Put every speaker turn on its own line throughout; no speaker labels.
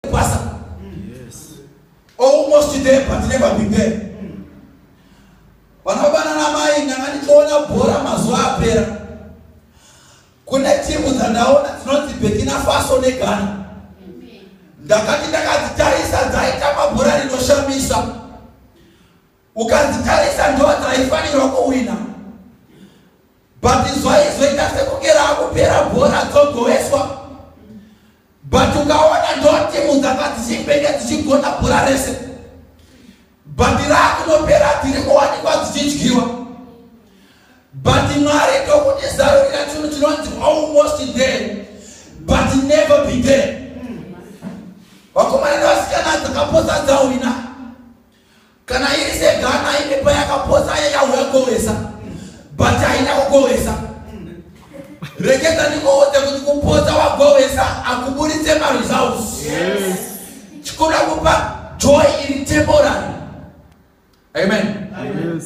kwasa almost there but never been there vanobana namai ndanga ndichiona bhora mazuva apera kune timu dzandaona dzinonzi burkina faso neghana ndakati ndakadzitarisa dzaita mabhora rinoshamisa ukadzitarisa ndo dzaifanirwa kuwina but zvaizoita sekunge raakupera bhora dzogoweswa but ukaona ndo timu dzanga dzichimbenge dzichigona bhora rese but raakunopera dziri kuwanikwa dzichidyiwa but mwari ndokuti zarurira chinhu chinonzi almost there but never be there vakomana nevasikana dzakapotsa dzahwina kana iri segana ine payakaposa aya yauya kowesa but haina kukowesa reketa ndikowote kuti kuposa wagowesa akuburitse maresults chikuda kupa joy iri temporary amen yes.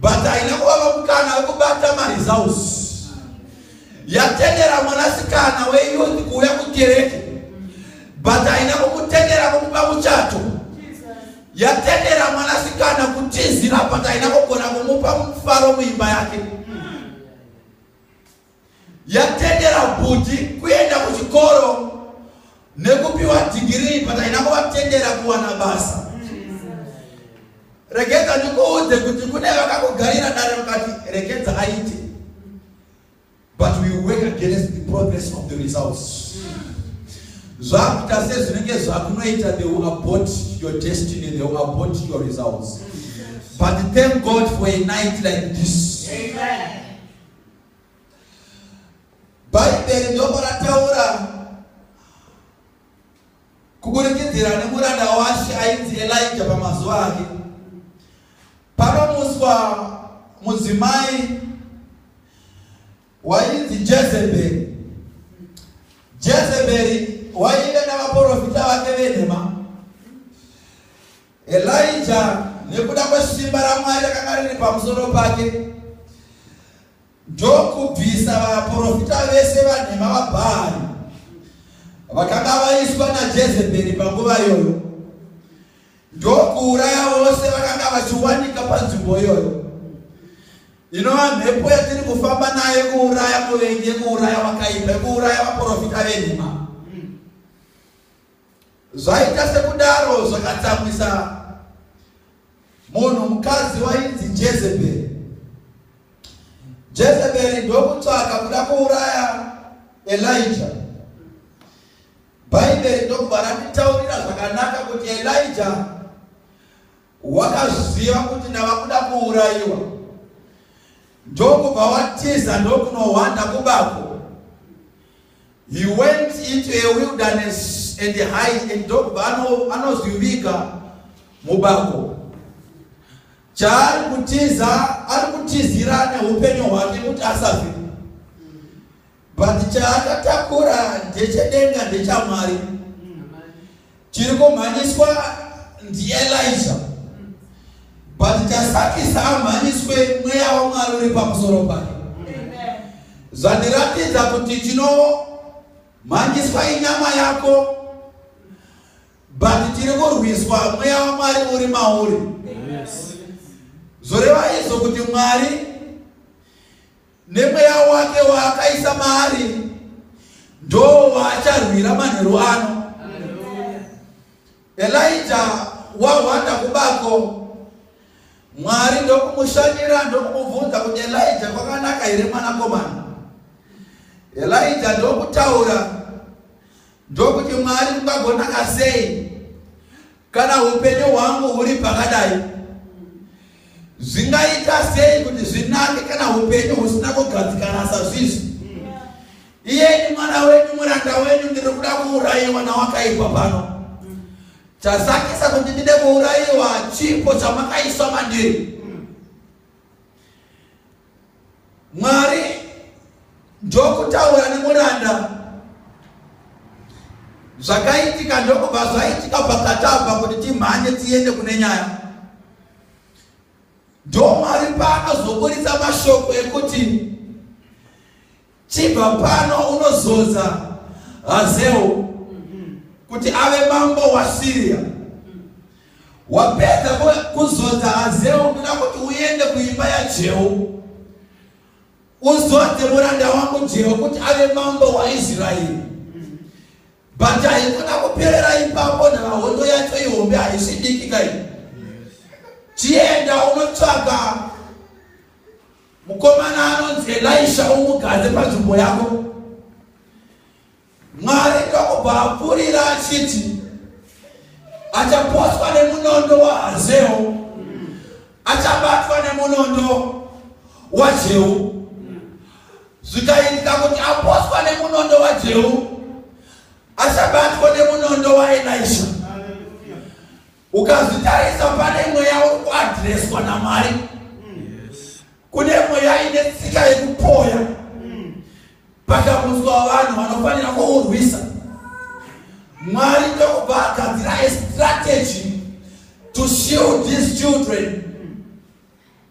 but haina kuvapa mukana wekubata maresults yatendera mwanasikana weyouth kuuya kukereke but haina kukutendera kumupa muchato yatendera mwanasikana kutizira but haina kugona kumupa mufaro muimba yake yatendera bhudhi kuenda kuchikoro nekupiwa dhigirii but haina kuvatendera kuwana basa rekedza ndikuudze kuti kune vakakugarira dare mukati rekedza aite but we work against the progress of the results zvakuita sezvinenge zvakunoita they will abort your destiny they will abort your results but thank god for a night like this Amen. bhaibheri ndoko rataura kuburikidzira nemuranda washe ainzi elija pamazuva ake panomuswa mudzimai wainzi jezeberi jezeberi waive navaprofita vake venhema Elijah nekuda kwesimba raMwari rakanga riri pamusoro pake ndokubvisa vaprofita vese vanhema vaBhaari vakanga vaiswa naJezebheri panguva iyoyo ndokuuraya vose vakanga vachiwanika panzvimbo iyoyo inova mhepo yatiri kufamba nayo kuuraya muvengi yekuuraya wakaipa yekuuraya vaprofita venhema Zvaita sekudaro zvakatsamwisa munhu mukadzi wainzi Jezeberi. Jezeberi ndokutsvaka kuda kuuraya Elija. Bhaibheri ndokubva ratitaurira zvakanaka kuti Elija Wakaziva kuti ndava kuda kuurayiwa ndokubva watiza ndokunohwanda kubako. He went into a wilderness and hide and ndokubva anozivika mubako. Chaari kutiza ari kutizira neupenyu hwake kuti asafe. but chaakatakura ndechedenga ndechamwari chiri kumhanyiswa ndielija but chasakisa amhanyiswe mweya wamwari uri pamusoro pake zvandiratidza kuti chinomhanyiswa inyama yako but tiri kurwiswa mweya wamwari uri mauri zvoreva izvo kuti mwari nemweya wake waakaisa maari ndoo waacharwira manheru ano elija wahwanda kubako mwari ndokumushanyira ndokumubvunza kuti elija kwakanaka here mwanakomana elija ndokutaura ndokuti mwari kungagonaka sei Kana hupenyu hwangu huri pakadai, zvingaita sei kuti zvinake kana hupenyu husina kugadzikana sazvizvi? Iye ni mwana wenyu, muranda wenyu, ndiri kuda kuurayiwa nawakaipa pano. Chasakisa kuti ndide kuurayiwa chipo chamakaiswa mandiri. Mwari ndokutaura nemuranda zvakaitika ndokubva zvaitika pakatava kuti timhanye tiende kune nyaya ndomwari paanozoburitsa mashoko ekuti Chibva pano unozodza Hazewo kuti ave mambo waSiria. Wapedza kuzodza Hazewo ndoda kuti uende kuimba yaJehu uzodze muranda wangu Jehu kuti ave mambo waIsraeri. But haikona kuperera ipapo nhava hondo yacho ihombe haisi diki kai. Chienda unotsvaga Mukomana anonzi Elisha umugadze panzvimbo yako. Mwari ndokubva apfurira achiti achaposwa nemunondo waHazeo, achabatwa nemunondo waJehu. Zvikaitika kuti aposwa nemunondo waJehu, achabatwa nemunondo waElisha. ukazvitarisa pane mweya uri kuadhireswa namwari kune mweya ine tsika yekupoya pakamutswa vanhu vanofanira kuurwisa mwari ndokubva agadzira estrategy to shield these children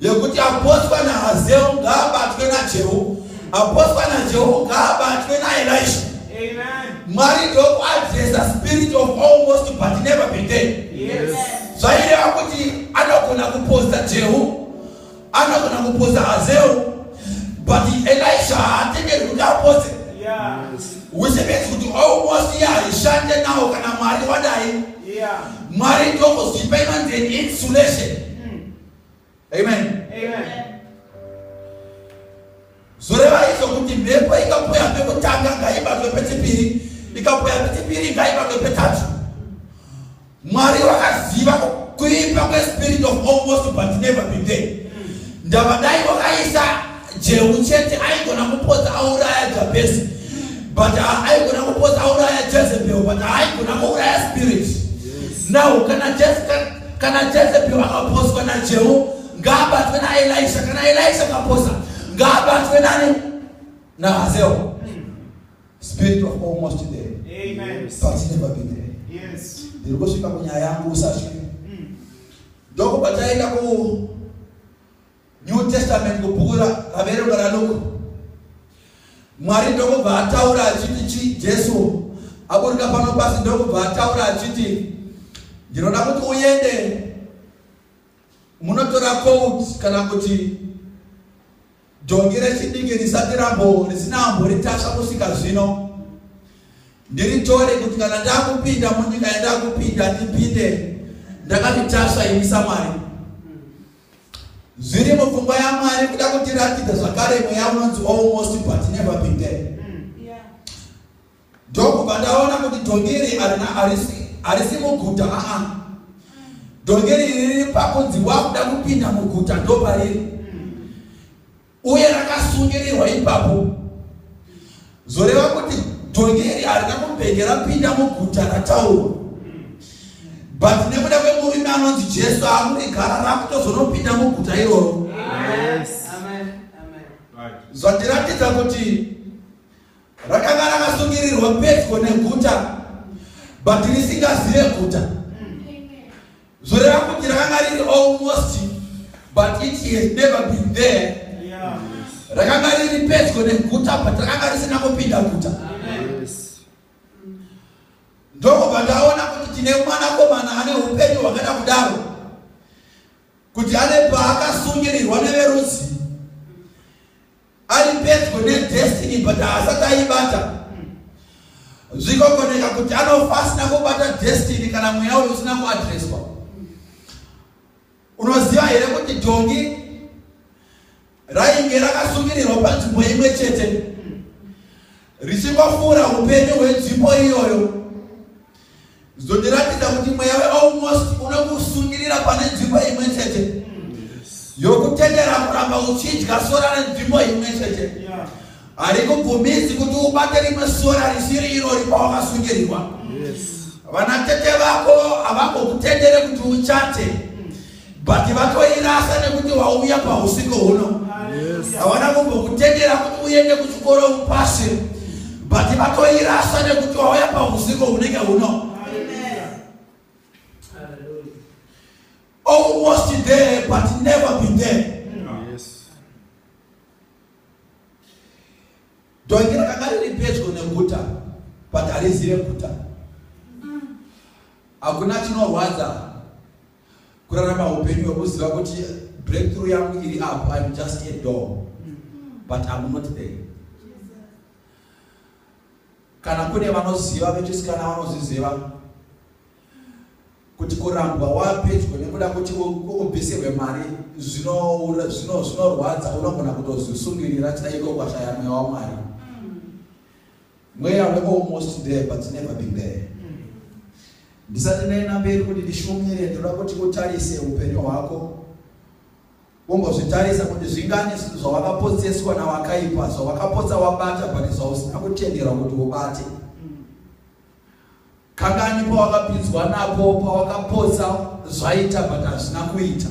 yekuti aposwa nahazeru ngaabatwe najehu aposwa najehu ngaabatwe naelisha mwari ndokuadresa spirit of almost but never be dead zvaireva kuti anogona kuposta jehu anogona kuposta hazeru but elisha haatengerwi kuti aposte which means kuti almost iye haishande nawo kana mwari wadai mwari ndokuzipa inonzi an insulation amen zvoreva izvo kuti mhepo ikapoya pekutanga ngaibatwe pechipiri ikapoya pechipiri ngaibatwe petatu mwari wakaziva kuipa kwespirit of almost but never been there ndavadai wakaisa jehu chete aigona kupodza auraya jabhesi but aigona kupodza auraya jezebel but aigona kuuraya spirit now kana jezebel kana jezebhiro akaposwa najehu ngaabatwe naelisha kana elisha akaposa ngaabatwe nani nahazeo spirit of almost there but never be there ndiri kusvika kunyaya yangu usasvike mm. ndokubva taenda ku New Testament kubhuku raverengwa raLuke, Mwari ndokubva ataura achiti chi Jesu aburika pano pasi ndokubva ataura achiti ndinoda kuti uende munotora coat kana kuti dhongi rechidiki risati rambo risina ambo ritasva kusvika zvino ndiritore kuti kana ndakupinda munyika yandakupinda ndipinde ndakatitasva imi samwari zviri mupfungwa yamwari kuda kutiratidza zvakare mweya unonzi almost but never been there mm. ndokubva ndaona kuti dhongeri harisi muguta aa dhongeri riri pakunzi wakuda kupinda muguta ndopariri mm. uye rakasungirirwa ipapo zoreva kuti dhongi iri harina kumbenge rapinda muguta rataurwa but nekuda kwemurume anonzi jesu akurigara rakutozonopinda muguta iroro zvandiratidza kuti rakanga rakasungirirwa pedyo neguta but risingazive guta Zoreva kuti rakanga riri almost but it has never been there. Rakanga riri pedyo neguta but rakanga risina kupinda guta. Ndokubva ndaona kuti tine mwanakomana ane upenyu hwakada kudaro kuti ane paakasungirirwa neverudzi ari pedyo nedestiny but haasati aibata zvikogoneka kuti anofa asina kubata destiny kana mweya uyo usina kuadreswa unoziva here kuti dhongi rainge rakasungirirwa panzvimbo imwe chete richingofura upenyu hwenzvimbo iyoyo Zvotiratidza kuti mweya wealmost unokusungirira pane nzvimbo imwe chete yokutendera kuramba uchidya sora renzvimbo imwe chete harikubvumizi kuti ubate rimwe sora risiri iro ripa wakasungirirwa vanatete vako havangokutendere kuti uchate but vatoirasa nekuti wauya pausiko huno hawana kumbokutendera kuti uende kuchikoro upase but vatoirasa nekuti wauya pausiko hunenge huno almost there but never been there dhongi rakanga riri pedyo neguta but harizive guta hakuna chinorwadza kurarama upenyu hwekuziva kuti breakthrough yangu iri apo im just a door but im not there kana kune vanoziva vechisikana vanozviziva kuti kurambwa wapedyo nekuda kuti ubisirwe mari zvinorwadza unogona kutozvisungirira chida iko kwashaya mweya wamwari Mweya we almost there but never been there. Ndisati ndaenda mberi kuti ndishumire ndinoda kuti utarise upenyu hwako. Wombozvitarisa kuti zvingani zvawakapotseswa nawakaipa zvawakapotsa wabata but zvausina kutenderwa kuti ubate. Kangani pawakapinzwa napo pawakapotsa zvaita but hazvina kuita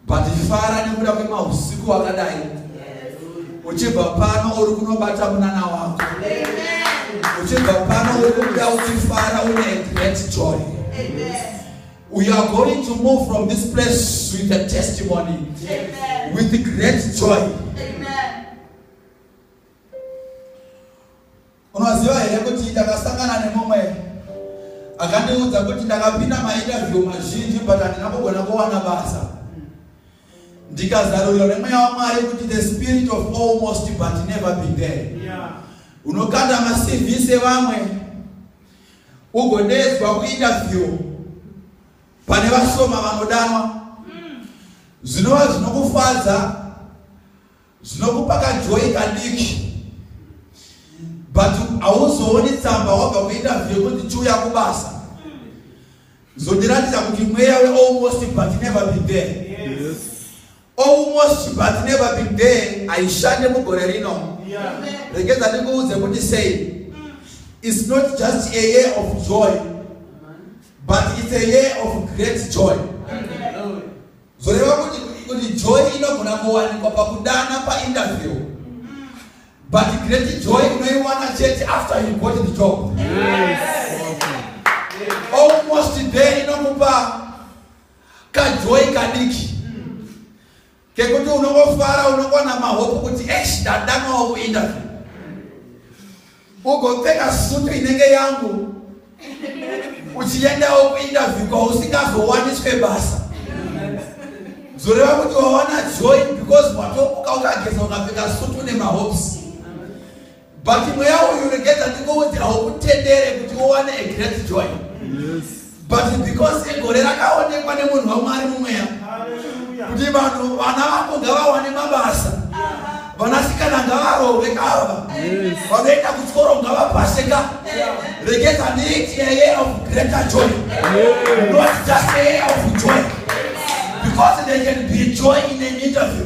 but fara nekuda kwemahusiku wakadai uchibva pano uri kunobata munana wako uchibva pano uri kubuda uchifara une great joy we are going to move from this place with a testimony Amen. with great joy Amen. Unoziva here kuti ndakasangana nemumwe akandiudza kuti ndakapinda mainterview mazhinji but handina kugona kuwana basa ndikazarurirwa nemweya wamwari kuti the spirit of almost but never be there unokanda macv sevamwe ugodeedzwa kuinterview pane vashoma vanodanwa zvinova zvinokufadza zvinokupa kajoyi kadiki but hauzooni tsamba wabva kuita vhiri kuti chiuya kubasa zvondiratidza kuti mweya wealmost but never been there almost but never been there haishande mugore rino regedza ndikuudze kuti sei its not just a year of joy but its a year of great joy Amen. zvoreva kuti kuti joy inogona kuwanikwa pakudana painterview but great joy unoiwana chete after you got the job yes. almost there inokupa kajoy kadiki kekuti unongofara unongwana mahope kuti esh ndadanwawo kuinterview ugopfeka sutu inenge yangu uchiendawo kuinterview kwausingazowaniswe basa zoreva kuti wawana joy because watomuka ukageza ukapfeka sutu nemahopes but mweya uyu regedza ndingoudzirawo kutendere kuti uwane a great joy yes. but because egore rakaonekwa nemunhu wamwari mumweya kuti vanhu vana vako ngavawane mabasa vanasikana ngavarove kava vanoenda kuchikoro ngavapase ka regeza neiti air of greater joy not just air of joy because they can be joy in an interview